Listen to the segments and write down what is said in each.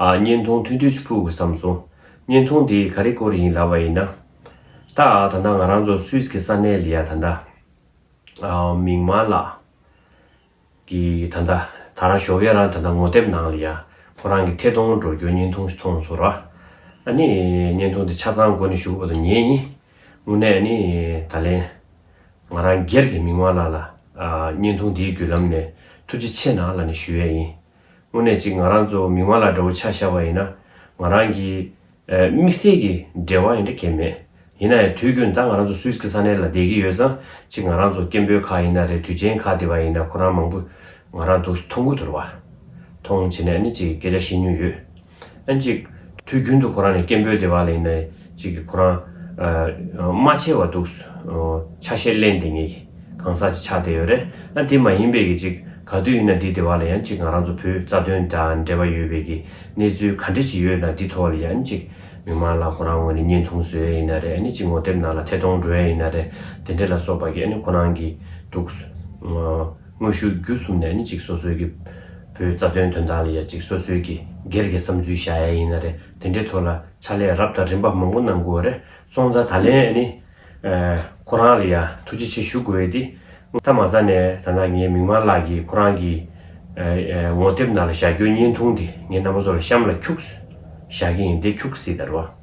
བརྙན་ཐུང་ཐུགས་འདོད་ཆུ་ཕུག་གི་བསམ་སོང། བརྙན་ཐུང་དེ་ག་རེ་སྐོར་ཡིན་ལབ་བ་ཡིན་ན། ད་ད་ལྟ་ང་རང་ཚོ་སུད་སི་ས་གནས་ལ་ཡ་ད་ད། མིག་དམར་ལགས། གི་ད་ད་ད་རང་ཞོགས་ཡ་རང་ད་ད་ངོ་དེབ་ནང་ལ་ཡ། ཁོ་རང་གི་ཐད་གཏོང་འགྲོ་རྒྱུ་བརྙན་ཐུང་ཞིག་མཐོང་སོང་ར། ཨ་ནི་བརྙན་ཐུང་དེ་ཆ་ཚང་སྒོ་ནས་ཞུ་གི་པ་དང་ཉན་ཡིན། དངོས་གནས་ཨ་ནི་ད་ལན། ང་རང་སྒེར་གྱི་མིག་དམར་ལགས་ལ། བརྙན་ཐུང་དེའི་བརྒྱུད་ལམ་ནས་ཐུགས་རྗེ་ཆེ་ནང་ལ་ནས་ཞུ་ཡས་ཡིན། དངོས་གནས་གཅིག་ང་རང་ཚོ་མིག་དམར་ལ་དགྲ་བོ་ཆགས་ཤར་བ་ཡིན་ན། ང་རང་གིས། དམིགས་བསལ་གྱི་འབྲེལ་བ་ཡིན་འདྲ་ཁྱེད་མེད། ཡིན་ན་ཡང་དུས་རྒྱུན་ད་ང་རང་ཚོ Swiss གྱི་ས་གནས་ལ་བསྡད་ཀྱི་ཡོད་ཙང་གཅིག་ང་རང་ཚོ་སྐད་འབོད་ཁག་ཡིན་ན་རེད་དུས་ཆེན་ཁག་དེ་བ་ཡིན་ན་ཁོ་རང་མང་པོ། ང་རང་འདུག་མཐོང་གུ་དོར་བ། མཐོང་བྱེད་ནས་ནི་གཅིག་སྐད་ཆ་བཤད་མྱོང་ཡོད། ཨེ། ཅིག། དུས་རྒྱུན་དུ་ཁོ་རང་ནི་སྐད་འབོད་བདེ་བ་ལ་ཡིན་ན་ཨེ། ཅིག། ཁོ་རང། རྨ་ཆེ་བ་འདུག། ཆ་ཤས་གླེན་བདེ་ངེས། གང་ཟག་ཅིག་ཆ་བདེ་ཡོད་རེད། ཨ། དེ་མ་ཡིན་པས་ཀྱི། ཅིག། ག་དུས་ཡིན་ན་འདི་བདེ་བ་ལ་ཡང་ཅིག་ང་རང་ཚོ་བུ་རྩ་དོན་དང་འབྲེལ་བ་ཡོད་པས་ཀྱི། གནས་ཚུལ་ག་འདྲི་ཅིག་ཡོད་ན་འདི་ཐོ་བ་ལ་ཡང་ཨེ། ཅིག། མི་མང་ལ་ཁོ་རང་ངོས་ནས་བརྙན་ཐུང་བཟོས་ཨེ་ཡིན་ན་རེད་ཨེ། ཅིག་ངོ་དེབ་ནང་ལ་ཐད་གཏོང་འགྲོ་ཡ་ཡིན་ན་རེད། དེ་འདྲི་ལ་སོགས་པ་ཀྱི་ཨེ་ཁོ་རང་གི། འདུག། དངོས་ཤུགས་བརྒྱུད་གསུམ་ནས་ནི་ཅིག་སོ་སོའི་གི། བོའི་རྩ་དོན་དོན་དག་ལ་ཡང་ཅིག་སོ་སོའི་གི། སྒེར་གྱི་བསམ་ཚུལ་བཞག་ཡ་ཡིན་ན་རེ་དེ་འདྲའི་ཐོག་ལ་ཕྱག་ལས་རབ་དང་རིམ་པ་མང་པོ་གནང་དགོས་བ་རེ་སོང་ཙང་ད་ལན་ནི། ཁོ་རང་ལ་ཡང་ཐུགས་རྗེ་ཆེ་ཞུ་དགོས་ཡོད་དེ། ཐ་མ་ས་ནས་ད་ནངས་ངའི་མིག་དམར་ལགས་ཀྱིས་ཁོ་རང་གི། ངོ་དེབ་ནང་ལ་བཞག་རྒྱུ་བརྙན་ཐུང་དེ་ངའི་རྣ་མ་ཚོ་ལ་གཤམ་ལ་འཁྱུགས། བཞག་གི་ཡིན་དེ་འཁྱུགས་སྲིད་དར་བ།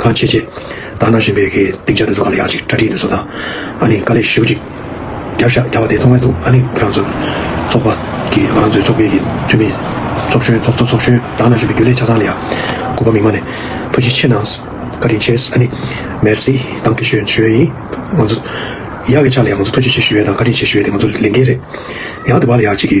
གང་བྱེད་ཅེས། བདག་ན་བཞིན་པའི་གི་སྟེང་ཆ་དེ་ཚོ་ག་ལ་ཡག་ཅིག་སྤྲ་ཁྲིད་དེ་ཚོ་དང། ཨ་ནི་དཀའ་ལས་ཞེ་པོ་ཅིག། རྒྱབ་ཤ་རྒྱག་པ་དེ་མཐོང་མཁན་འདུག་ཨ་ནི་ང་རང་ཚོ། ཚོགས་པ། གི་ང་རང་ཚོའི་ཚོགས་པའི་གི་འཐུས་མི། ཚོགས་གཞོན་ཚོགས་གཙོ་ཚོགས་གཞོན་བདག་ན་བཞིན་པའི་རྒྱུ་ལས་ཆ་ཚང་ལ་ཡ། གུས་པ་མིག་མ་ནས། ཐུགས་རྗེ་ཆེ་གནང། བཀའ་དྲིན་ཆེ། ཨ་ནི། Merci། དང་གི་ཞུ་ཞུ་ཡས་ཡིན། ང་ཚོ། ཡག་གི་ཆ་ལ་ཡ་ང་ཚོ་ཐུགས་རྗེ་ཆེ་ཞུ་ཡས་དང་བཀའ་དྲིན་ཆེ་ཞུ་ཡས་དེ་ང་ཚོ་ལས་འགན་རེད། ཡང་དེ་བ་ལ་ཡག་ཅིག་གི།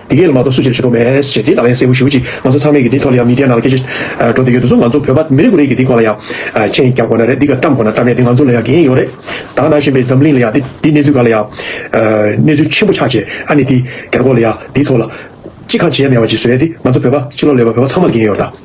འདི་གས་ལ་མ་གཏོགས་སུ་ཅིར་བྱེད་དོགས་མེད། ཞེས་དེའི་ལག་ལེན་གསལ་བོ་ཞུ་ཅིག་ང་ཚོ་ཚང་མས་གི་དེའི་ཐོག་ལ་ཡང་མི་དེའི་ནང་ལ་སྐད་ཆ་འགྲོ་འདོད་ཡོད་དུ་སོང་ང་ཚོ་བོད་པ་མི་རེ་གུ་རེ་གི་དེའི་ཁོག་ལ་ཡང་མཆན་རྒྱབ་དགོས་ན་རེད་འདི་ག་བཀྲམ་དགོས་ན་བཀྲམ་ཡ་དེ་ང་ཚོ་ལ་ཡང་འགན་ཡོད་རེད་དྭགས་ནང་བཞིན་པའི་འཛམ་གླིང་ལ་ཡང་དེ་འདི་གནས་ཚུལ་ག་ལ་ཡང་གནས་ཚུལ་ཆེན་པོ་ཆགས་རྗེས་ཨ་ནི་དེ་གར་གོ་ལ་ཡ་དེའི་ཐོག་ལ་ཅི་གང་བྱེད་ཡ་མེད་པ་ཅིག་བཟོས་ཡ་དེ་ང་ཚོ་བོད་པ་ཕྱི་ལོག་ལས་པ་བོད་པ་ཚང་མ་ལ་འགན་ཡོད་རེད་དྭགས།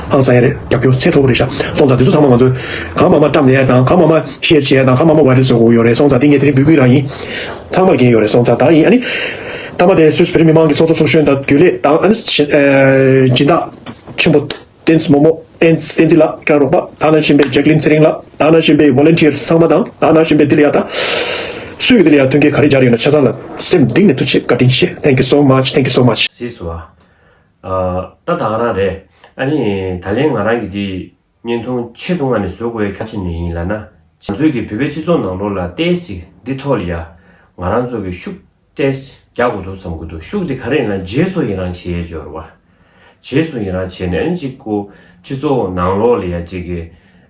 ཨང་གསལ་རེད་རྒྱབ་སྐྱོར་ཚད་མཐོ་བོ་རེད་ཤག་སོང་ཙང་དེ་ཚོ་ཚང་མ་ང་ཚོའི་གང་མང་མ་བཀྲམ་ནས་དང་གང་མང་མ་བཤེར་བྱས་དང་གང་མང་མ་བ་རེད་བཟོ་དགོས་ཡོད་རེད་སོང་ཙང་དེ་ངས་དེ་རིང་འབུད་དགོས་རང་ཡིན། ཚང་མར་འགན་ཡོད་རེད་སོང་ཙང་དང་ཡིན་ཨ་ནི། མཐའ་མ་དེ་སུད་བེ་རི་མི་མང་གི་ཚོགས་གཙོ་ཚོགས་གཞོན་དང་རྒྱུན་ལས་དང་ཨ་ནི། སྦྱིན་བདག་ཆེན་པོ་བསྟན་འཛིན་མོ་མོ། བསྟན་བསྟན་འཛིན་ལགས་དྲན་རོགས་པ་དག་ན་བཞིན་པའི་ཇེག་ལིན་ཚེ་རིང་ལགས་དག་ན་བཞིན་པའི Volunteers ཚང་མ་དང་དག་ན་བཞིན་པའི་འདི་ལ་ཡ་དག་སུ་ཡོད་འདི་ལ་ཡ་ཐོན་མཁན་ག་རེ་འབྱར་ཡོད་ན་ཆ་ཚང་ལ་སེམས་གདིང་ནས་ཐུགས་ཆེ་བཀའ་དྲིན་ཆེ Thank you so much Thank you so much། སིས་བ། ཨ། ད་ང་རང་རེད། ཨ་ནི། ད་ལན་ང་རང་གི་དེ། བརྙན་ཐུང་ཆེད་དུ་ང་ནི་བཟོ་དགོས་གལ་ཆེ་ནི་ཡིན་ལ་ན། ང་ཚོས་ཀྱི་བོད་པའི་སྤྱི་ཚོགས་ནང་ལོ་ལ་ཏས་སི་འདི་ཐོག་ལ་ཡ། ང་རང་ཚོ་གི་ཤུག་ཏས་སི་རྒྱག་དགོས་འདུག་བསམ་གི་འདུག་ཤུག་དེ་ག་རེ་ཡིན་ལ་རྗེས་སུ་ཡི་རང་བྱེད་སྦྱོར་བ། རྗེས་སུ་ཡི་རང་བྱེད་ནས་ཨ་ནི་ཅིག་གུ། སྤྱི་ཚོགས་ནང་ལོ་ལ་ཡ་ཅིག་གི།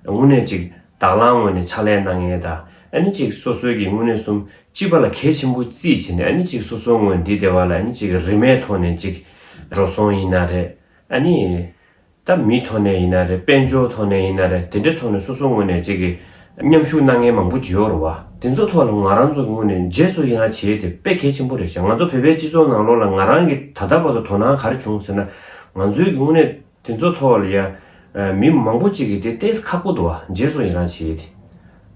དངོས་གནས་ཅིག་དྭགས་ལང་ངོ་ནས་ཕྱག་ལས་གནང་ངེས་ད། ཨ་ནི་ཅིག་སོ་སོའི་གི་དངོས་གནས་གསུམ་གཅིག་པ་ལ་གལ་ཆེན་པོ་རྩིས་བྱས་ནས་ཨ་ནི་ཅིག་སོ་སོའི་དངོས་འདི་སྡེ་བ་ལ་ཨ་ནི་ཅིག་རིས་མེད་ཐོག་ནས་ཅིག་འགྲོ་སོང་ཡིན་ན་རེད་ཨ་ནི། ད་མི་ཐོག་ནས་ཡིན་ན་རེད་དཔལ་འབྱོར་ཐོག་ནས་ཡིན་ན་རེད་དེ་འདྲའི་ཐོག་ནས་སོ་སོ་དངོས་ནས་ཅིག་མཉམ་ཞུགས་གནང་མཁན་མང་པོ་འབྱོར་བ་དེ་ཚོ་ཐོག་ལ་ང་རང་ཚོ་གི་དངོས་ནས་རྗེས་སུ་ཡི་རངས་བྱེད་དེ་དཔེ་གལ་ཆེན་པོ་རེད་བྱས་ང་ཚོ་བོད་པའི་སྤྱི་ཚོགས་ནང་ལོགས་ལ་ང་རང་གི་ད་ལྟ་བར་དུ་དོ་སྣང་ག་རེ་བྱུང་ཟེར་ན་ང་ཚོའི་གི་དངོས་ནས་དེ་ཚོ་མཐོང་བ་ལ་ཡ། མི་མང་པོ་གཅིག་གིས་དེ་བལྟས་ཁག་པོ་འདུག་བ་རྗེས་སུ་ཡི་རང་བྱེད་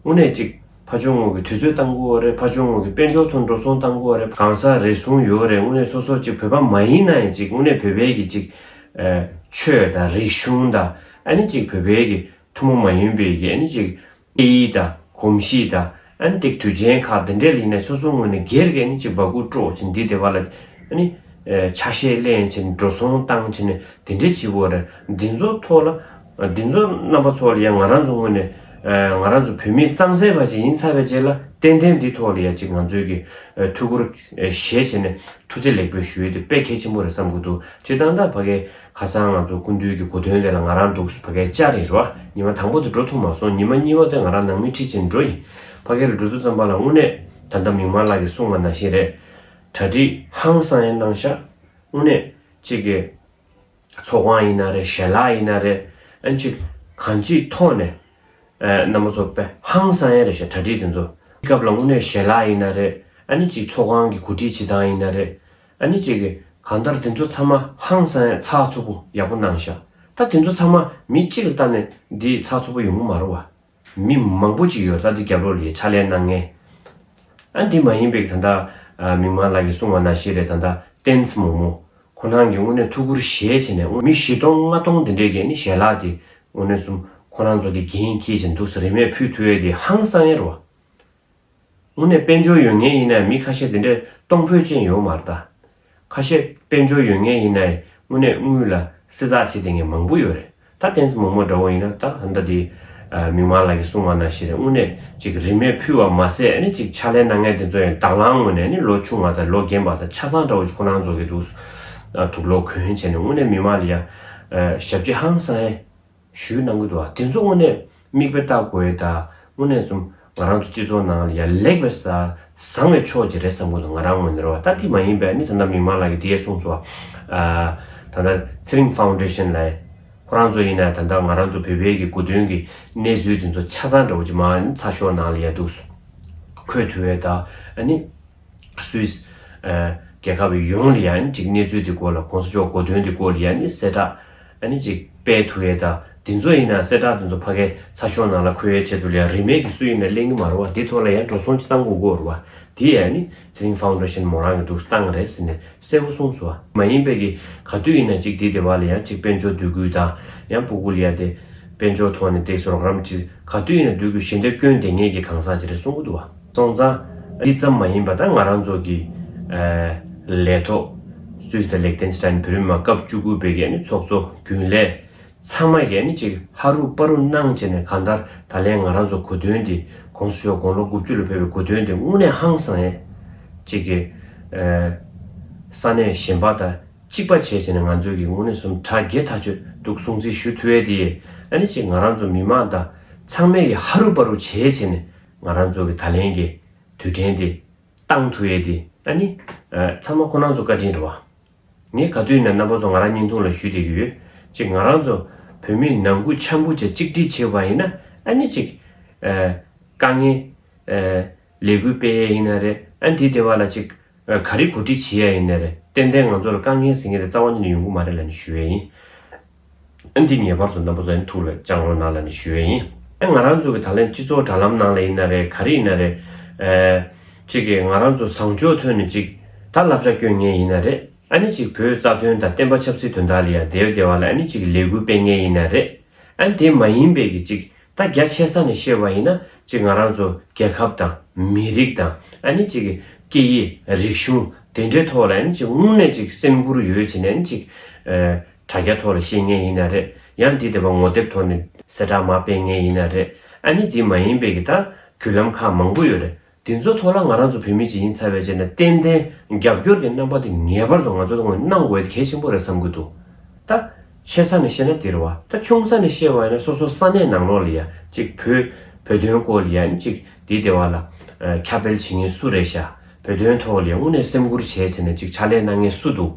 ཡོད་དེ། དངོས་གནས་གཅིག། ཕ་ཆུང་ངུ་གི་དུས་ཚོད་གཏང་དགོས་བ་རེད་ཕ་ཆུང་ངུ་གི་དཔལ་འབྱོར་ཐོག་འགྲོ་སོང་གཏང་དགོས་བ་རེད་གང་ཟག་རེ་ཟུང་ཡོད་རེད་དངོས་གནས་སོ་སོ་གཅིག་བོད་པ་མ་ཡིན་ན་ཡང་གཅིག་དངོས་གནས་བོད་པའི་གི་གཅིག། ཆོས་དང་རིག་གཞུང་དང་ཨ་ནི་གཅིག་བོད་པའི་གི་ཐུ་མོ་མ་ཡིན་པའི་གི་ཨ་ནི་གཅིག། ཨེ་ཡི་དང། གོམས་གཤིས་དང། ཨན་ཏིག་དུས་ཆེན་ཁག་འདི་འདྲའི་ཡིན་ནས་སོ་སོ་དངོས་ནས་སྒེར་གྱི་ནི་ཅིག་འབག་སྐུ་དཀྲོག་ཅིང་འདི་དེ་བ་ལ། ནི། ཆ་ཤས་གླེང་ཅིང་འགྲོ་སོང་བཏང་ཅིང་ནི་དེ་འདྲའི་བྱིས་བོ་རེད། འདི་ཚོ་ཐོག་ལ། འདི་ཚོ་རྣམ་པ་ཚོ་ལ་ཡང་ང་རང་ཚོ་དངོས་ནས། ང་རང་ཚོ་བོད་མིའི་གཙང་སེལ་བ་ཞིག་ཡིན་ཚར་བའི་རྗེས་ལ་ཏན་ཏན་འདི་ཐོག་ལ་ཡ་ཅིག་ང་ཚོའི་གི། ཐུགས་ཁུར། བཞེས་བྱས་ནས་ཐུགས་རྗེ་ལེགས་འབུལ་ཞུ་ཡུལ་དེ་དཔེ་གལ་ཆེན་པོ་རེད་བསམ་གྱི་འདུག་སྤྱིར་བཏང་ད་བར་གི། ཁ་སང་ང་ཚོ་སྐུ་མདུན་གྱི་གོ་དོན་དེ་ལ་ང་རང་འདུག་སུ་ཕ་གའི་ལྕགས་རི་རུ་ཉི་མ་དང་པོ་དེ་འགྲོ་ཐུབ་མ་སོང་ཉི་མ་གཉིས་པ་དེ་ང་རང་ནང་མི་ཁྲིད་ཆེད་འགྲོ་ཡིན། ཕ་གའི་རུ་འགྲོ་དུས་ཙམ་པ་ལ་དངོས་གནས་ད་ལྟ་མིག་དམར་ལགས་ཀྱིས་གསུངས་པ་ནང་བཞིན་རེད། གྲ་སྒྲིག་ཧང་སང་ཡང་གནང་ཤག། དངོས་གནས་གཅིག་གི་ཚོགས་ཁང་ཡིན་ན་རེད་ཞལ་ལག་ཡིན་ན་རེད་ཨན་ཅིག་གང་ཅིའི་ཐོག་ནས་རྣམ་པ་ཚོ་དཔེ་ཧང་སང་ཡང་རེད་ཞག་གྲ་སྒྲིག་དེ་ཚོ་སྐབས་ལ་དངོས་གནས་ཞལ་ལག་ཡིན་ན་རེད་ཨ་ནི་གཅིག་ཚོགས་ཁང་གི་གོ་སྒྲིག་བྱེད་སྟངས་ཡིན་ན་རེད། ཨ་ནི་ཅེ་གི་གང་ལྟར་དེ་ཚོ་ཚང་མ་ཧང་སང་ཡ་ཚགས་ཚུགས་པོ་ཡག་པོ་གནང་ཤག་ད་དེ་ཚོ་ཚང་མ་མི་གཅིག་ལ་བལྟ་ནས་འདི་ཚགས་ཚུགས་པོ་ཡོང་གི་མ་རོ་བ། མི་མང་པོ་ཅིག་ཡོད་ད་འདི་རྒྱབ་ལོག་ལས་ཕྱག་ལས་གནང་ངེས། ཨ་འདི་མ་ཡིན་པའི་ད་ལྟ་མིག་མངས་ལགས་ཀྱི་གསུང་བ་ན་ཞེས་རེད་ད་ལྟ་བསྟན་ཚེ་མོ་མོ་ཁོ་ནང་གི་དངོས་གནས་ཐུགས་ཁུར་གཞལ་བྱས་ནས་དངོས་མི་བཞི་སྟོང་ལྔ་སྟོང་འདི་འདྲས་ཀྱི་ཨ་ནི་ཞལ་ལག་དེ་དངོས་གནས་གསུམ་ཁོ་རང་ཚོ་དེ་རྒྱན་འཁྱེར་བཞིན་འདུག་ཟེར་རེ་མས་ཕུད་ཐུ་ཨེ་དེ་ཧང་སང་ཡ་རོ་བ། དངོས་གནས་དཔལ་འབྱོར་ཡོད་ངེས་ཡིན་ནའི་མི་ཁ་ཤས་དེ་འདྲའི་གཏོང་ཕོད་ཅན་ཡོང་མ་རྟ། ཁ་ཤས་དཔལ་འབྱོར་ཡོད་ངེས་ཡིན་ནའི་དངོས་གནས་དངུལ་ལ་བསྲི་ཚགས་བྱེད་དེ་ངས་མང་པོ་ཡོད་རེད་ད་དེང་སི་མོ་མོ་འདྲ་བོ་ཡིན་ན་ད་ད་ལྟ་དེ། མིག་དམར་ལགས་ཀྱི་གསུང་བ་ན་ཞེས་རེད་དངོས་གནས་ཅིག་རིན་མེད་ཕུལ་བ་མ་ཟད་ནི་ཅིག་ཕྱག་ལེན་ན་ངས་དེ་ཚོ་ཡང་དྭགས་ལང་ངོ་ནས་ནི་ལོ་ཆུང་བ་དང་ལོ་རྒན་པ་དང་ཆ་ཚང་འདྲ་བོ་ཅིག་ཁོ་ནང་རྫོགས་ཀྱི་འདུག་སུ་ད་དུག་ལོག་གོན་བྱས་ནས་དངོས་གནས་མི་དམངས་ལ་ཡང། ཞབས་ཀྱི་ཧང་སང་ཨེ། ཞུས་གནང་གི་འདུག་བ་དེ་ཚོ་དངོས་གནས་མིག་དཔེ་བལྟ་དགོས་ད་དངོས་གནས་གསུམ་ང་རང་ཚོ་སྤྱི་ཚོགས་ནང་ལ་ཡ་ལེགས་པའི་བཟང་བའི་ཕྱོགས་ཅིག་རེད་བསམ་གོ་ད་ང་རང་ངོས་ནས་རོ་ལྟ་དེ་མ་ཡིན་པས་ནི་ད་ད་མིག་མང་ལགས་ཀྱི་དེ་གསུངས་སོ་ད་ད་ཚེ་རིང་ཧྥ་ཝུན་ཏྲེ་ཤན་ལས་ཁོ་རང་ཚོ་ཡིན་ན་ད་ད་ང་རང་ཚོ་བོད་པའི་གི་གོ་དོན་གི་གནས་ཚུལ་དེ་ཚོ་ཆ་ཚང་འདྲ་བོ་ཅིག་མ་ནི་ཚ་ཤོག་ནང་ལ་ཡ་འདུག་སོ་ཁོས་དུ་བས་ད་ནི། Swiss། རྒྱལ་ཁབ་ཡོངས་ལ་ཡང་ཅིག་གནས་ཚུལ་དེ་སྐོར་ལ་གོང་ས་མཆོག་གོ་དོན་དེ་སྐོར་ལ་ཡང་ནི་གསལ་བསྒྲགས་ནི་ཅིག་སྤེལ་ཐུབ་ཡས་དང་དེ་ཚོ་ཡིན་ན་གསལ་བསྒྲགས་དེ་ཚོ་ཕ་གའི་ཚ་ཤོག་ནང་ལ་འཁོད་ཡས་ཆེད་དུ་ལ་ཡང་རིས་མེད་ཀྱི་སུ་ཡིན་ན་གླེང་གི་མ་རོ་བ་དེ་ཐོག་ལ་ཡང་འགྲོ་སོང་ཅི་གཏང་དགོས་གོ་རོ་བ་དེ་ཡང་ནི་ཚེ་རིང Foundation མོ་རང་གི་འདུག་སྟངས་རེད་ཟེར་ནས་གསལ་བོ་གསུངས་སོ། མ་ཡིན་པའི་གི་ག་དུས་ཡིན་ན་ཅིག་དེ་དེ་བ་ལ་ཡང་ཅིག་དཔལ་འབྱོར་སྡུད་དགོས་དང་ཡང་པུ་གུ་ལ་ཡ་དེ་དཔལ་འབྱོར་ཐོག་ནས་འདེགས་སོ་རོགས་རམ་ཅིག་ག་དུས་ཡིན་ན་སྡུད་དགོས་ཞེ་འདོད་སྐྱོན་དེ་ངེད་ཀྱི་གང་ཟག་ཅིག་རེད་གསུང་གི་འདུག་བ། སོང་ཙང། འདི་ཙམ་མ་ཡིན་པ་ད་ང་རང་ཚོ་གི། ལས་ཐོག། སུད་སི་ལེག་ཐེན་སི་ཐན་བོད་རིགས་མ་སྐབས་བཅུ་དགུ་པའི་གནས་ཚོགས་གཙོ་རྒྱུན་ལས། ཚང་མ་གནས་གཅིག་ཧ་རུ་དཔའ་རུ་གནང་བྱས་ནས་གང་ལྟར་ད་ལན་ང་རང་ཚོ་གོ་དོན་འདི་གོངས་སུ་ཤོག་དགོངས་ལོ་དགུ་བཅུ་ལ་ཕེབས་པའི་གོ་དོན་འདི་དངོས་གནས་ཧང་སང་ཡས། གཅིག་གི། ས་གནས་གཞན་པ་དང་གཅིག་པ་བྱས་བྱས་ནས་ང་ཚོས་གི་དངོས་གནས་སུམ་ཕྲག་བརྒྱད་ཐག་ཆོད་འདུག་སྲུང་བརྩི་ཞུ་ཐུ་ཨེ་དེ་ཡས་ཨ་ནི་གཅིག་ང་རང་ཚོ་མི་མང་དང་ཚང་མས་གི་ཧ་རུ་དཔའ་རུ་བྱས་བྱས་ནས་ང་རང་ཚོ་གི་ད་ལན་གྱི་དུས་དྲན་དེ་ཏང་ཐུ་ཡེ་དེ་ཨ་ནི། ཚང་མ་ཁོ་ནང་ཚོ་བཀའ་དྲིན་རེད་བ། ངས་ག་དུས་ནས་རྣམ་པ་ཚོ་ང་རང་སྙིང་ཐུང་ལ་ཞུ་བསྡད་ཀྱི་ཡོད། གཅིག་ང་རང་ཚོ་བོད་མི་ནང་ཁུལ་འཆམ་པོ་བྱེད་གཅིག་སྒྲིལ་བྱེད་བ་ཡིན་ན་ཨ་ནི་གཅིག། དཀའ་ངལ། ལས་འགུལ་སྤེལ་ཡས་ཡིན་ན་རེད་ཨ་དེ་དེ་བ་ལ་གཅིག། ག་རེ་གོ་སྒྲིག་བྱེད་ཡས་ཡིན་ན་རེད་ཏན་ཏན་ང་ཚོ་ལ་དཀའ་ངལ་ཟེར་ངེས་རེད་རྩ་བ་ཉིད་ནས་ཡོང་གི་མ་རེད་ལ་ནི་ཞུ་ཡས་ཡིན། ཨེ་འདི་ངེས་པར་དུ་ནམ་པོ་ཟ་ཡིན་ཐུགས་ལ་བཅངས་རོགས་གནང་ལ་ནི་ཞུ་འོས་ཡིན། ཨེ་ང་རང་ཚོ་གི་ད་ལན་སྤྱི་ཚོགས་དྲ་ལམ་ནང་ལ་ཡིན་ན་རེད་ག་རེ་ཡིན་ན་རེད། ཅིག་གིས་ང་རང་ཚོ་བཟང་ཕྱོགས་ཐོན་ནས་ཅིག་ད་བསླབ་བྱ་བསྐྱོན་ངེས་ཡིན་ན་རེད། ཨེ་ནི་ཅིག་བོད་རྩ་དོན་དང་བསྟན་པ་ཆབ་སྲིད་དོན་དག་ལ་ཡང་དེ་བས་དེ་བ་ལ་ཨེ་ནི་ཅིག་གི་ལས་འགུལ་སྤེལ་ངེས་ཡིན་ན་རེད། ཨེ་དེ་མ་ཡིན་པས་ཀྱི་ཅིག་ད་རྒྱ་ཆེ་ས་ནས་བཤད་པ་ཡིན་ན་ཅིག་ང་རང་ཚོ་རྒྱལ་ཁབ་དང། མི་རིགས་དང་ཨེ་ནི་ཅིག་གི་སྐད་ཡིག་རིག་གཞུང་དེ་འདྲའི་ཐོག་ལ་ཨེ་ནི་ཅིག་སྔུན་ནས་ཅིག་སེམས་ཁུར་ཡོད་བྱས་ནས་ཨེ་ནི་ཅིག། དྲ་རྒྱ་ཐོག་ལ་ཤེས་ངེས་ཡིན་ན་རེད་ཡང་འདི་དེ་བ་ངོ་དེབ་ཐོག་ནས་གསལ་བསྒྲགས་མ་སྤེལ་ངེས་ཡིན་ན་རེད་ཨ་ནི་འདི་མ་ཡིན་པའི་གི་ད་བརྒྱུད་ལམ་ཁག་མང་པོ་ཡོད་རེད་འདི་ཚོ་ཐོག་ལ་ང་རང་ཚོ་བོད་མི་ཅིག་ཡིན་ཚར་བའི་རྗེས་ནས་ཏན་ཏན་རྒྱབ་སྐྱོར་གི་རྣམ་པ་དེ་ངེས་པར་དུ་ང་ཚོ་ལ་ངོས་གནང་དགོས་ཨེ་གལ་ཆེན་པོ་རེད་བསམ་གི་འདུག་ད་ཆེ་ས་ནས་བཤད་ན་འདིར་བ་ད་ཆུང་ས་ནས་བཤད་བ་ཡིན་ན་སོ་སོ་ས་གནས་ནང་ལོག་ལ་ཡང་ཅིག་བོད་བོད་དོན་སྐོར་ལ་ཡང་ཅིག་འདི་དེ་བ་ལ་ཁྱབ་སྤེལ་བྱེད་ངེས་སུ་རེད་ཤག། བོད་དོན་ཐོག་ལས་དབུ་ནས་སེམས་ཁུར་བྱས་ཚེ་ནས་ཅིག་ཕྱག་ལས་གནང་ངེས་སུ་འདུག་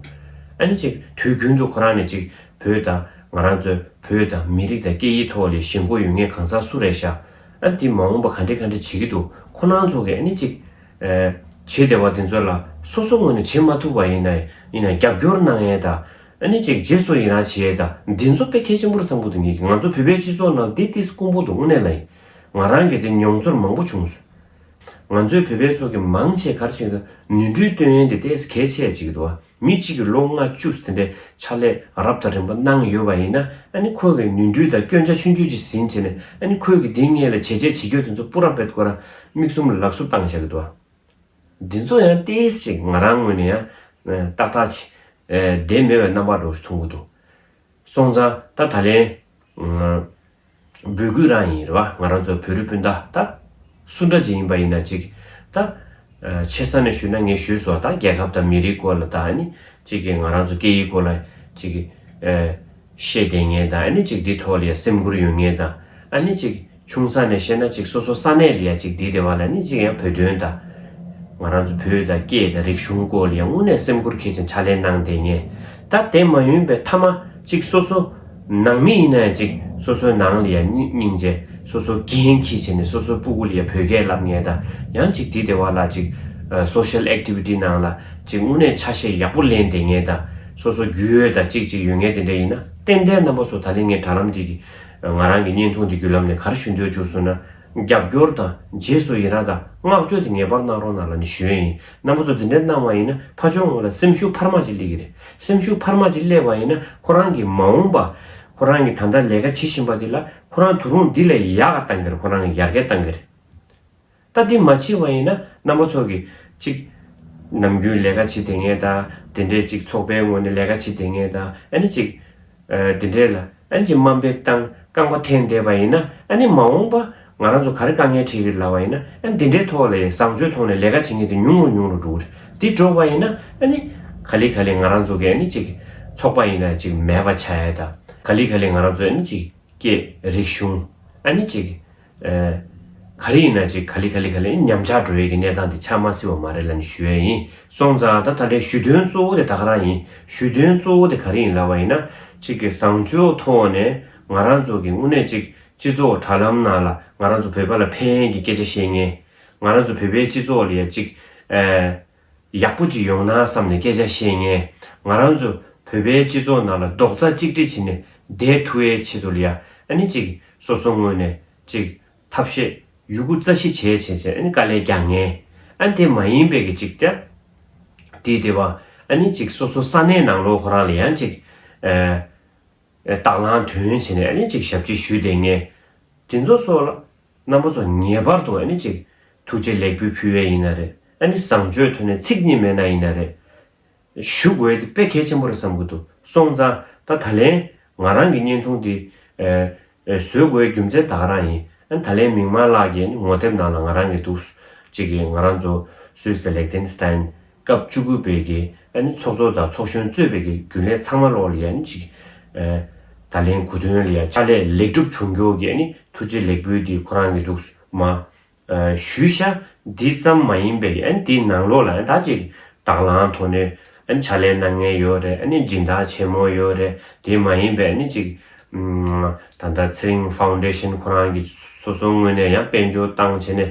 ཨ་ནི་ཅིག་དུས་རྒྱུན་དུ་ཁོ་རང་ནས་ཅིག་བོད་དང་ང་རང་ཚོའི་བོད་དང་མི་རིགས་དང་སྐད་ཡིག་ཐོག་ལས་ཞེན་གོ་ཡོད་ངེས་གང་ཟག་སུ་རེད་ཤག་ཨ་འདི་མ་འོངས་པ་ག་འདྲེ་ག་འདྲེ་བྱེད་ཀྱི་འདུག་ཁོ་རང་ཚོ་གིས་ཨ་ནི་ཅིག་བྱེད་བདེ་བ་དེ་ཚོ་ལ་སོ་སོ་ངོས་ནས་བྱེད་མ་ཐུབ་པ་ཡིན་ན་ཡིན་ན་རྒྱབ་སྐྱོར་གནང་ཡས་དང་ཨ་ནི་ཅིག་རྗེས་སུ་ཡི་རང་བྱེད་ཡས་དང་འདི་ཚོ་དཔེ་གལ་ཆེན་པོར་བསམ་གོ་ཐུབ་ངེས་ཀྱི་ང་ཚོ་བོད་པའི་སྤྱི་ཚོགས་ནང་འདི་ཏིས་ཀུན་པོ་འདུག་དངོས་གནས་ལ་ཡིན་ང་རང་གིས་དེ་མྱོང་ཚོར་མང་པོ་བྱུང། ང་ཚོའི་བོད་པའི་ཚོགས་ཀྱི་མང་ཆེ་གར་ཆེན་དུ་ནུས་འབྲུའི་སྟོན་ཡོན་དེ་ལྟས་གལ་ཆེ་ཅིག་གི་འདུག་མི་གཅིག་གི་ལོ་ལྔ་བཅུ་ཟིན་པའི་ཕྱག་ལས་རབ་དང་རིམ་པ་གནང་ཡོད་པ་ཡིན་ན་ཨ་ནི་ཁོ་གི་ནུས་འབྲུ་དང་སྐྱོན་ཆ་ཆུང་ཆུང་ཅིག་ཟིན་བྱས་ནས་ཨ་ནི་ཁོས་གི་དེ་སྔའི་ལས་བྱས་རྗེས་བྱེད་རྒྱུ་དེ་ཚོ་སྤུ་རམ་བེད་དགོས་ར་མིག་གསུམ་ལག་གསུབ་བཏང་བཞག་གི་འདུག་འདི་ཚོ་ཡང་ལྟས་ཅིག་ང་རང་ངོས་ནས་ཡང་ཏག་ཏག་ཅིག་བསྡད་མེད་པའི་རྣམ་པ་འགྲོ་ཐུང་གི་འདུག་སོང་ཙང་ད་ད་ལན། འབོད་སྐུལ་རང་ཡིན་རེད་བ་ང་རང་ཚོ་བོད་རིགས་སྤུན་ཟླ་ད། སུ་འདྲ་ཅིག་ཡིན་པ་ཡིན་ན་ཅིག་ད། ཆེ་ས་ནས་ཞུས་ན་ངས་ཞུས་སོང་ད་རྒྱལ་ཁབ་དང་མི་རིགས་སྐོར་ལ་ད་ནི་ཅིག་གིས་ང་རང་ཚོ་སྐད་ཡིག་སྐོར་ལ་ཅིག། བཤད་བསྡད་ངེས་དང་ཨ་ནི་ཅིག་འདི་ཐོག་ལ་ཡ་སེམས་འཁུར་ཡོད་ངེས་དང་ཨ་ནི་ཅིག། ཆུང་ས་ནས་བཤད་ན་ཅིག་སོ་སོ་ས་གནས་ལ་ཡང་ཅིག་འདི་ལྟེ་བ་ལ་ནི་ཅིག་ཡང་བོད་དོན་དང། ང་རང་ཚོ་བོད་དང་སྐད་དང་རིག་གཞུང་སྐོར་ལ་ཡང་དངོས་གནས་སེམས་ཁུར་ཁེ་ཅིང་ཕྱག་ལེན་གནང་བསྡད་ངེས། ད་དེ་མ་ཡོན་པའི་ཐ་མ་ཅིག་སོ་སོ་ནང་མི་ཡིན་ན་ཡང་ཅིག་སོ་སོའི་ནང་ལ་ཡང་སྙིང་རྗེ་སོ་སོ་རྒན་ཁེ་ཆེ་ནས་སོ་སོའི་སྤུ་གུ་ལ་ཡང་བོད་སྐད་ལབ་ངེས་དང་ཡང་ཅིག་འདི་ལྟེ་བ་ལ་ཅིག Social Activity ནང་ལ་ཅིག་དངོས་གནས་ཆ་ཤས་ཡག་པོ་ལེན་བསྡད་ངེས་དང་སོ་སོ་རྒྱུས་ཡོད་དང་ཅིག་ཅིག་ཡོད་ངེས་དེ་འདྲ་ཡིན་ན་ཏན་ཏན་རྣམ་པ་ཚོ་ད་ལེ་ངས་དྲ་ལམ་འདི་གི་ང་རང་གི་བརྙན་ཐུང་འདི་བརྒྱུད་ལམ་ནས་གར་ཞུ་འདོད་བྱུང་སོང་ན། རྒྱབ་སྐྱོར་དང་རྗེས་སུ་ཡི་རངས་དང་བསྔགས་བརྗོད་དེ་ངེས་པར་གནང་རོགས་གནང་ལ་ནི་ཞུ་ཡས་ཡིན་རྣམ་པ་ཚོ་འདི་འདྲའི་གནང་བ་ཡིན་ན་ཕ་ཆོས་ངོས་ལ་སེམས་ཤུགས་འཕར་མ་ཅིག་སླེ་གི་རེད་སེམས་ཤུགས་འཕར་མ་ཅིག་སླེ་བ་ཡིན་ན་ཁོ་རང་གི་མ་འོངས་པ། ཁོ་རང་གི་ད་ལྟ་ལས་ཀ་བྱེད་བཞིན་པ་འདི་ལ་ཁོ་རང་དུ་རུང་འདི་ལས་ཡག་ག་གཏང་གི་རེད་ཁོ་རང་གི་ཡར་རྒལ་གཏང་གི་རེད། ལྟ་དེ་མ་ཕྱིན་བ་ཡིན་ན་རྣམ་པ་ཚོགས་ཀྱིས་གཅིག། ནམ་རྒྱུན་ལས་ཀ་བྱེད་དེ་ངེས་ད། དེ་འདྲས་གཅིག་ཚོགས་པའི་ངོས་ནས་ལས་ཀ་བྱེད་དེ་ངེས་ད་ཨེ་ན་གཅིག། དེ་འདྲས་ལ་ཨན་གྱི་དམའ་འབེབས་སྟངས་རྐང་པ་འཐེན་བསྡད་པ་ཡིན་ན་ཨ་ནི་མ་འོངས་པ་ང་རང་ཚོ་ག་རེ་དཀའ་ངལ་འཕྲད་ཀྱི་ལ་བ་ཡིན་ན་ཨན་དེ་འདྲའི་ཐོག་ལ་ཡི་བཟང་སྤྱོད་ཐོག་ནས་ལས་ཀ་བྱེད་ངེས་དེ་ཉུང་རུ་ཉུང་རུ་འགྲོ་གི་རེད་དེ་འགྲོ་བ་ཡིན་ན་ཨ་ནི། ག་ལི་ག་ལི་ང་རང་ཚོ་གི་ཨ་ནི་གཅིག། ཚོགས་པ་ཡིན་ན་གཅིག་མེད་པ་བྱ་ཡས་ད་ག་ལི་ག་ལི་ང་རང་ཚོ་ཨ་ནི་གཅིག། སྐད་རིགས་གཞུང་ཨ་ནི་གཅིག། ག་རེ་ཡིན་ན་ཅིག་ག་ལི་ག་ལི་ག་ལི་ཉམས་ཆག་འགྲོ་ཡས་ཀྱི་གནས་སྟངས་དེ་ཆགས་མ་སྲིད་བ་མ་རེད་ལ་ནི་ཞུ་ཡས་ཡིན་སོང་ཙང་ད་ད་ལྟའི་ཞུ་དོན་གཙོ་བོ་དེ་ད་ག་རང་ཡིན་ཞུ་དོན་གཙོ་བོ་དེ་ག་རེ་ཡིན་ལབ་བ་ཡིན་ན་ཅིག་གི་བཟང་སྤྱོད་མཐོ་བ་ནས་ང་རང་ཚོ་གི་དངོས་གནས་ཅིག་སྤྱི་ཚོགས་དྲ་ལམ་ནང་ལ་ང་རང་ཚོ་བོད་པ་ལ་ཕན་གྱི་སྐད་ཆ་བཤད་ངེས་ང་རང་ཚོ་བོད་པའི་སྤྱི་ཚོགས་ལ་ཡ་ཅིག་ཨེ། ཡག་པོ་གཅིག་ཡོང་ན་བསམ་ནས་སྐད་ཆ་བཤད་ངས་ང་རང་ཚོ་བོད་པའི་སྤྱི་ཚོགས་ནང་ལ་རྡོག་རྩ་གཅིག་སྒྲིལ་བྱེད་ནས་བསྡད་ཐུ་ཨེ་བྱེད་དུ་ལ་ཡ་ཨ་ནི་ཅིག་སོ་སོ་ངོས་ནས་ཅིག་ཐབས་ཤེས་ཡུ་གུ་རྩ་ཤི་བྱས་བྱས་བྱས་ཨ་ནི་དཀའ་ལས་རྒྱག་ངས་ཨ་ནི་དེ་མ་ཡིན་པའི་གི་ཅིག་ཏེ་དེའི་དེ་བ་ཨ་ནི་ཅིག་སོ་སོ་ས་གནས་ནང་ལོ་ཁོ་རང་ལ་ཡང་ཅིག་ཨ་ཨ་དྭགས་ལང་དོན་བྱེད་ནས་ཨ་ནི་ཅིག་ཞབས་སྤྱི་ཞུས་བསྡད་ངས་དེ་ཚོ་སོགས་ལ་རྣམ་པ་ཚོ་ངེས་པར་དུ་ཨ་ནི་ཅིག། ཐུགས་རྗེ་ལེགས་འབུལ་ཕུལ་བས་ཡིན་ན་རེད། ཨ་ནི་བཟང་སྤྱོད་ཐོན་ནས་ཚིག་གཉིས་མེད་ན་ཡིན་ན་རེད། ཞུ་དགོས་དེ་དཔེ་གལ་ཆེན་པོ་རེད་བསམ་གྱི་འདུག་སོང་ཙང་ད་ད་ལན། ང་རང་གི་བརྙན་ཐུང་འདི། བཟོས་དགོས་རྒྱུ་མཚན་ད་ག་རང་ཡིན། ཨ་ནི་ད་ལན་མིང་མ་བཀླགས་ཀྱི་ཨ་ནི་ངོ་དེབ་ནང་ལ་ང་རང་གི་འདུག། ཅིག་གིས་ང་རང་ཚོ། སུད་སི་ལེགས་ལྡན་སི་ཏན། སྐབས་བཅུ་དགུ་པའི་གི་ཨ་ནི་ཚོགས་གཙོ་དང་ཚོགས་གཞོན་གཙོས་པའི་གི་རྒྱུན་ལས་ཚང་མ་ལོག་ལི་ཨ་ནི་ཅིག། ད་ལན་གུ་དོན་ལི་ཨ་ཅག་ལས་ལེགས་གྲུབ་བྱུང་མགྱོགས་གི་ཨ་ནི་ཐུགས་རྗེ་ལེགས་འབུལ་འདི་ཁོ་རང་གི་འདུག་སུ་མ། ཞུས་ཤ་འདི་ཙམ་མ་ཡིན་པའི་གི་ཨ་ནི་འདི་ནང་ལོག་ལ་ཨ་ནི་ད་ཅིག་དྭགས་ལང་ཐོག་ནས་ཨ་ནི་ཕྱག་ལས་གནང་ངེས་ཡོད་རེད་ཨ་ནི་སྦྱིན་བདག་ཆེན་མོ་ཡོད་རེད་དེ་མ་ཡིན་པའི་ཨ་ནི་ཅིག། ད་ལྟ་ཚེ་རིང་ཧྥའུ་འདྲེ་ཤེན་ཁོ་རང་གི་སོ་སོ་ངོས་ནས་ཡང་དཔལ་འབྱོར་བཏང་བྱས་ནས་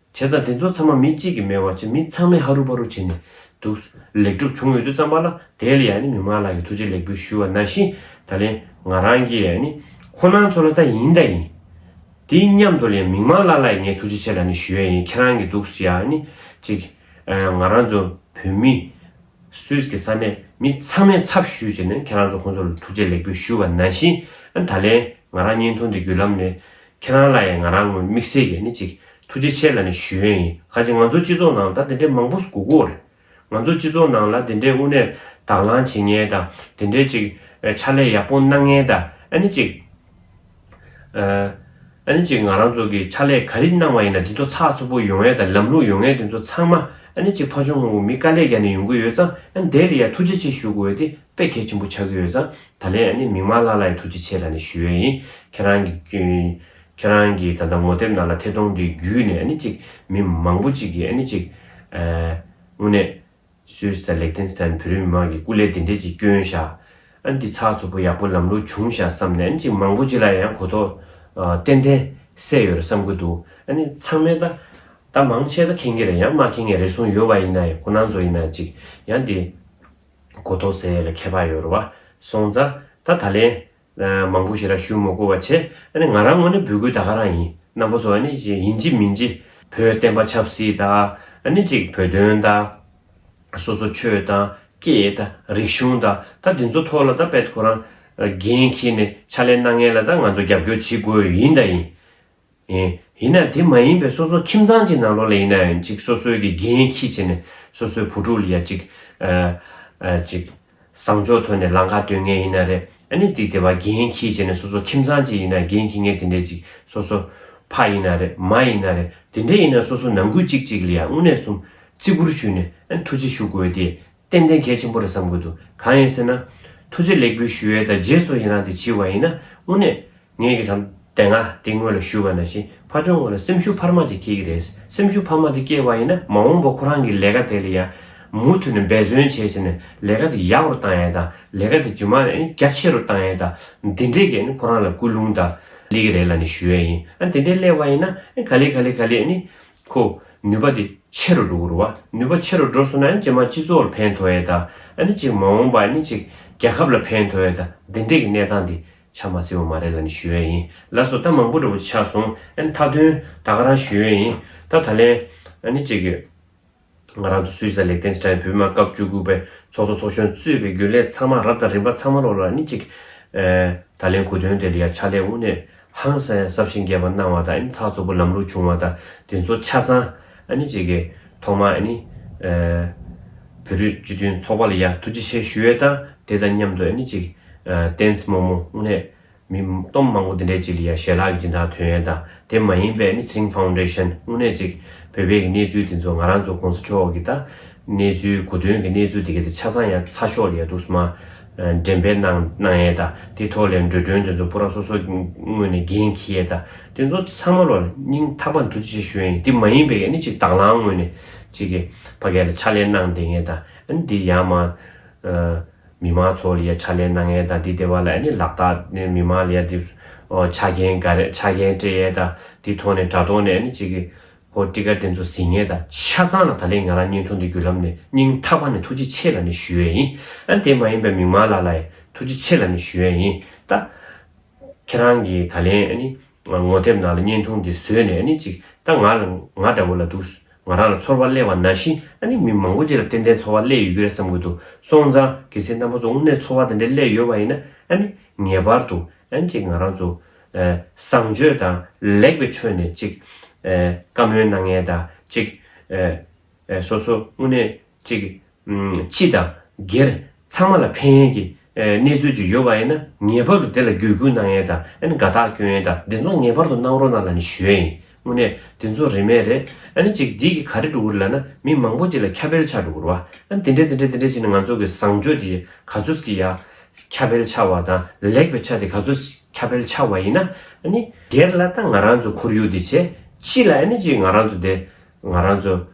བྱས་ཙང་དེ་ཚོ་ཚང་མ་མི་གཅིག་གིས་མེད་བར་བྱས་མི་ཚང་མས་ཧ་རུ་ཧྥ་རུ་བྱས་ནས་འདུག། ལེགས་གྲུབ་བྱུང་ཡོད་དུས་ཙམ་པ་ལ་དེ་ལ་ཡང་ནི་མི་མངའ་ལགས་ཀྱི་ཐུགས་རྗེ་ལེགས་འབུལ་ཞུ་བ་ན་བཞིན་ད་ལན་ང་རང་གིས་ཡང་ནི་ཁོ་ནང་ཚོ་ལ་ད་ཡིན་ད་ཡིན། དེ་སྙམ་དུ་ལ་ཡང་མི་མངའ་ལགས་ལ་ཡང་ངས་ཐུགས་རྗེ་ཆེ་ལ་ནི་ཞུ་ཡ་ཡིན་ཁྱེད་རང་གིས་འདུག་ཡང་ནི་གཅིག། ང་རང་ཚོ་བོད་མི། སུད་ཀྱི་ས་གནས་མི་ཚང་མས་ཚབ་ཞུས་བྱས་ནས་ཁྱེད་རང་ཚོ་ཁོང་ཚོ་ལ་ཐུགས་རྗེ་ལེགས་འབུལ་ཞུ་བ་ནང་བཞིན་ད་ལན་ང་རང་བརྙན་ཐུང་འདི་བརྒྱུད་ལམ་ནས་ཁྱེད་རང་ལ་ཡང་ང་རང་ངོས་དམིགས་བསལ་གྱིས་ནི་ཅིག་ཐུགས་རྗེ་ཆེ་ལ་ནི་ཞུ་ཡོན་ཡིན་ཁ་ཅིག་ང་ཚོ་སྤྱི་ཚོགས་ནང་ད་དེ་འདྲའི་མང་པོ་སྒུག་གོ་རེད་ང་ཚོ་སྤྱི་ཚོགས་ནང་ལ་དེ་འདྲའི་དབུ་ནས་དག་ལངས་བྱེད་ངེས་དང་དེ་འདྲའི་ཅིག་ཕྱག་ལས་ཡག་པོ་གནང་ངེས་དང་ནི་ཅིག། ཨ་ནི་ཅིག་ང་རང་ཚོ་གི་ཕྱག་ལས་ག་རི་གནང་བ་ཡིན་ན་དེ་ཚོ་ཚགས་ཚུད་པོ་ཡོང་ཨེ་དང་ལམ་ལྷུང་ཡོང་ཨེ་དེ་ཚོ་ཚང་མ་ཨ་ནི་ཅིག་ཕ་ཆུང་ངོ་བོ་མི་དཀའ་ལས་རྒྱ་ནས་ཡོང་གི་ཡོད་ཙང་ཨ་ནི་དེ་ལ་ཡ་ཐུགས་རྗེ་ཆེ་ཞུ་དགོས་ཡོད་དེ་དཔེ་གལ་ཆེན་པོ་ཆགས་ཀྱི་ཡོད་ཙང་ད་ལན་ཨ་ནི་མིག་མང་ལྷག་ལྷག་ཡི་ཐུགས་རྗེ་ཆེ་ལ་ནི་ཞུ་ཡོད་ཡིན་ཁྱེད་རང་གི་ཁྱེད་རང་གི་ད་ལྟ་ངོ་དེབ་ནང་ལ་ཐད་གཏོང་དེ་བརྒྱུད་ནས་ཨ་ནི་ཅིག་མི་མང་པོ་ཅིག་གིས་ཨ་ནི་ཅིག་དངོས་གནས། སུའིས་དང་ལེག་ཐེན་སི་ཐན་བོད་རིགས་མི་དམངས་ཀྱི་སྐུ་ལས་འདི་འདྲས་ཀྱི་སྐྱོན་བཞག་ཨ་འདི་ཚགས་ཚུད་པོ་ཡག་པོ་ལམ་ལུགས་བྱུང་བཞག་བསམ་ནས་ཨ་ནི་ཅིག་མང་པོ་ཅིག་ལ་ཡང་གོ་ཐོ་ཏན་ཏན་སད་ཡོད་རེད་བསམ་གི་འདུག་ཨ་ནི་ཚང་མས་ད་ད་མང་ཆེ་ད་ཁེངས་ཀྱི་རེད་ཡང་མ་ཁེངས་ངེས་རེ་ཟུང་ཡོད་པ་ཡིན་ན་ཡང་གོ་ན་ཚོ་ཡིན་ན་ཅིག་ཡང་འདི་གོ་ཐོ་ཟད་ཡོད་ལ་ཁྱད་པར་ཡོད་རེད་བ་སོང་ཙང་ད་ད་ལན་མང་པོ་ཞིག་ར་ཞུ་མོ་བསྐོ་བ་བྱེད། ཨ་ནི་ང་རང་ངོ་ནི་བུ་གུའི་ད་ག་རང་ཡིན། རྣམ་པ་ཚོ་ཨ་ནི་ཅིག་ཡིན་ཅིག་མིན་ཅིག། བོད་བསྟན་པ་ཆབ་སྲིད་དང། ཨ་ནི་ཅིག་བོད་དོན་དང། སོ་སོ་ཆོས་དང། སྐད་དང། རིག་གཞུང་དང། ད་འདི་ཚོ་ཐོག་ལ་ད་བེད་ཁོ་རང། འགན་འཁྱེར་ནས་ཕྱག་ལས་གནང་མཁན་ལ་ད་ང་ཚོ་རྒྱབ་སྐྱོར་བྱེད་དགོས་ཡིན་དང་ཡིན། ཡིན། ཡིན་ན་དེ་མ་ཡིན་པའི་སོ་སོ་ཁྱིམ་ཚང་གཅིག་ནང་ལོག་ལ་ཡིན་ན་ཡང་ཅིག་སོ་སོའི་དགེ་རྒན་ཁྱི་བྱེད་ནས་སོ་སོའི་བུ་ཕྲུག་ལ་ཡང་ཅིག། ཅིག། བཟང་ཕྱོགས་ཐོན་ནས་ལང་ཀ་སྟོན་ངེས་ཡིན་ན་རེད་ཨ་ནི་དེ་དེ་བ་དགེ་རྒན་ཁྱི་བྱེད་ནས་སོ་སོ་ཁྱིམ་ཚང་གཅིག་ཡིན་ན་དགེ་རྒན་ཁྱི་ངན་དེ་འདྲས་ཅིག་སོ་སོ། ཕ་ཡིན་ན་རེད་མ་ཡིན་ན་རེད་དེ་འདྲས་ཡིན་ན་སོ་སོ་ནང་ཁུལ་ཅིག་ཅིག་ལ་ཡང་དངོས་གནས་སུམ་བརྩི་བཀུར་ཞུས་ནས་ཨ་ནི་ཐུགས་རྗེ་ཞུ་དགོས་ཏེ་ཏན་ཏན་གལ་ཆེན་པོ་རེད་བསམ་དགོས་འདུག་གང་ཡིན་ཟེར་ན། ཐུགས་རྗེ་ལེགས་འབུལ་ཞུ་ཡས་དང་རྗེས་སུ་ཡི་རང་དེ་བྱིས་བ་ཡིན་ན་དངོས་གནས། ངེད་ཀྱི་དམ་དེ་ང་དེ་ངོས་ལ་ཞུ་བ་ནང་བཞིན་ཕ་ཆོག་ངོས་ལ་སེམས་ཤུགས་འཕར་མ་ཅིག་སྐྱེ་གི་རེད་སེམས་ཤུགས་འཕར་མ་དེ་སྐྱེ་བ་ཡིན་ན་མ་འོངས་པ་ཁོ་རང་གི་ལས་ཀ་དེ་ལ་ཡང། མུ་མཐུད་ནས་འབད་བརྩོན་བྱས་བྱས་ནས་ལས་ཀ་དེ་ཡག་རུ་བཏང་ཡས་དང་ལས་ཀ་དེ་རྒྱུ་མ་ནས་རྒྱ་ཆེ་རུ་བཏང་ཡས་དང་འདི་འདྲས་ཀྱི་ཁོ་རང་ལ་སྐུལ་སློང་དང། ལས་ཀྱི་རེ་ལ་ནས་ཞུ་ཡས་ཡིན་ཨ་འདི་འདྲས་སླེབས་བ་ཡིན་ན་ཨ་ག་ལེ་ག་ལེ་ག་ལེ་ཨ་ནི། ཁོ། ནུས་པ་དེ་ཆེ་རུ་འགྲོ་རུ་བ། ནུས་པ་ཆེ་རུ་འགྲོ་སོང་ན་ཨ་ནི་སྤྱི་དམངས་སྤྱི་ཚོགས་ལ་ཕན་ཐོགས་ཡས་དང་ཨ་ནི་གཅིག་མ་འོངས་པ་ཨ་ནི་གཅིག་རྒྱལ་ཁབ་ལ་ཕན་ཐོགས་ཡས་དང་འདི་འདྲས་ཀྱི་གནས་སྟངས་དེ་ཆ་མ་ཚིག་བ་མ་རེད་ལ་ནི་ཞུ་ཡས་ཡིན་ལ་སོ་ལྟ་མང་པོ་འདྲ་པོ་ཆགས་སོང་ཨ་ནི་མཐའ་དོན་ད་ག་རང་ཞུ་ཡས་ཡིན་ད་ད་ལན་ཨ་ནི་གཅིག། ང་རང་ཚོ་སུད་སི་ལ་ལེགས་ལྡན་ཕྱི་དྲག་བོད་མི་མང་སྐབས་བཅུ་དགུ་པའི་ཚོགས་གཙོ་ཚོགས་གཞོན་གཙོས་པའི་རྒྱུན་ལས་ཚང་མ་རབ་དང་རིམ་པ་ཚང་མ་ལོག་ལ་ནི་གཅིག། ད་ལན་གོ་དོན་དེར་ཡང་ཕྱག་ལས་དབུ་ནས་ཧང་སང་ཡང་སྲབ་ཞིང་རྒྱས་པ་གནང་བ་དང་ནི་ཚགས་ཚུད་པོ་ལམ་ལུགས་བྱུང་བ་དང་དེ་ཚོ་ཆ་ཚང་ནི་གཅིག་གི་ཐོག་མ་ནི། བོད་རིགས་སྤྱི་མཐུན་ཚོགས་པ་ལ་ཡང་ཐུགས་རྗེ་ཆེ་ཞུ་ཡས་དང་དེ་དང་མཉམ་དུ་ནི་གཅིག། བསྟན་སྨོན་མོ་དབུ་ནས་མི་སྟོང་མང་པོ་འདི་འདྲའི་ཅི་ལི་ཡ་ཞལ་ལག་གི་སྦྱིན་བདག་དོན་ཡོད་དང་དེ་མ་ཡིན་པའི་ནི་ཚེ་རིང་ཕའུ་འདྲེ་ཤན་དངོས་གནས་ཅིག་བོད་པའི་གི་གནས་ཚུལ་འདི་ཚོ་ང་རང་ཚོ་གོང་ས་མཆོག་གི་ད་གནས་ཚུལ་གོ་དོན་གི་གནས་ཚུལ་འདི་ག་དེ་ཆ་ཚང་ཡ་ཚ་ཤོག་ལི་ཡ་འདུག་སྨ་འདྲེན་པའི་གནང་གནང་ཡས་དང་དེ་ཐོག་ལས་འགྲོས་སྒྲོན་འདི་ཚོ་པུ་ར་སོ་སོ་དངོས་ནས་འགན་ཁི་ཡས་དང་དེ་ཚོ་ཚང་མ་ལོ་སྙིང་ཐག་པ་འདུ་ཅི་ཆ་ཞུ་ཡ་ཡིན་དེ་མ་ཡིན་པའི་གི་ནི་ཅིག་དྭང་བླང་དངོས་ནས་ཅིག་གི་ཕ་གས་ལ་ཕྱག་ལས་གནང་དེ་ངས་དང་འདི་ཡ་མ། མི་དམངས་ཚོ་ལ་ཡ་ཆ་ལེན་གནང་ཡས་དང་འདི་དེ་བ་ལ་ཡ་ནི་ལག་རྟགས་ནི་མི་དམངས་ལ་ཡ་འདི་ཆ་རྐྱེན་ག་རེད་ཆ་རྐྱེན་སྤྲད་ཡས་དང་འདི་ཐོག་ནས་དྲ་ཐོག་ནས་ཡ་ནི་ཅིག་གི་བོ་སྤྲི་དཀར་དེ་ཚོ་ཟིན་ངེས་ད་ཆ་ཚང་ལ་ད་ལེ་ང་རང་སྙིང་ཐུང་འདི་བརྒྱུད་ལམ་ནས་སྙིང་ཐག་པ་ནས་ཐུགས་རྗེ་ཆེ་ལ་ནི་ཞུ་ཡས་ཡིན་ཨ་དེ་མ་ཡིན་པའི་མིག་དམར་ལགས་ལ་ཡས་ཐུགས་རྗེ་ཆེ་ལ་ནི་ཞུ་ཡས་ཡིན་ད། ཁྱེད་རང་གི་ད་ལེ་ཡ་ནི་ངོ་དེབ་ནང་ལ་སྙིང་ཐུང་འདི་བཟོས་ནས་ཡ་ནི་ཅིག་ད་ང་ལ་ང་འདྲ་བོ་ལ་འདུག་ང་རང་ལ་ཚོར་བ་གླེང་བ་ན་བཞིན་ཨ་ནི་མི་མང་པོ་ཅིག་ལ་ཏན་ཏན་ཚོར་བ་གླེང་ཡོད་ཀྱི་རེད་བསམ་གྱི་འདུག་སོང་ཙང་གི་ཚེ་རྣམ་པ་ཚོ་དངོས་གནས་ཚོར་བ་དེ་འདྲའི་གླེང་ཡོད་པ་ཡིན་ན་ཨ་ནི་ངེས་པར་དུ་ཨ་ནི་ཅིག་ང་རང་ཚོ། བཟང་སྤྱོད་དང་ལེགས་པའི་ཁྲོད་ནས་ཅིག། བཀའ་མོལ་གནང་མཁན་དང་ཅིག། སོ་སོ་དངོས་གནས་ཅིག། སྤྱི་དང། སྒེར། ཚང་མ་ལ་ཕན་ཡོན་གྱི། གནས་ཚུལ་ཅིག་ཡོད་པ་ཡིན་ན་ངེས་པར་དུ་དེ་ལ་གུས་བཀུར་གནང་ཡན་དང་དགའ་རྟགས་སྐྱོན་ཡན་དང་དེ་ཚོ་ངེས་པར་དུ་གནང་རོགས་གནང་ལ་ནི་ཞུ་ཡན་ཡིན་དངོས་གནས་དེ་ཚོ་རིན་མེད་རེད་ཨན་ཅིག་དེ་གི་ག་རེ་འགྲོ་གི་རེད་ལ་ན་མི་མང་པོ་ཅིག་ལ་ཁྱབ་སྤེལ་ཆགས་འགྲོ་གི་རུ་བ་ཨན་དེ་འདྲས་དེ་འདྲས་དེ་འདྲས་བྱས་ནས་ང་ཚོ་གི་བཟང་སྤྱོད་དེ་ག་ཚོད་ཀྱི་ཡ། ཁྱབ་སྤེལ་ཆགས་བ་དང་ལེགས་པའི་ཆ་དེ་ག་ཚོད་ཁྱབ་སྤེལ་ཆགས་བ་ཡིན་ན་ནི། དེར་ལ་ད་ང་རང་ཚོ་ཁོར་ཡུག་དེ་བྱས་ཅི་ལ་ཨན་ཅིག་ང་རང་ཚོ་དེ་ང་རང་ཚོ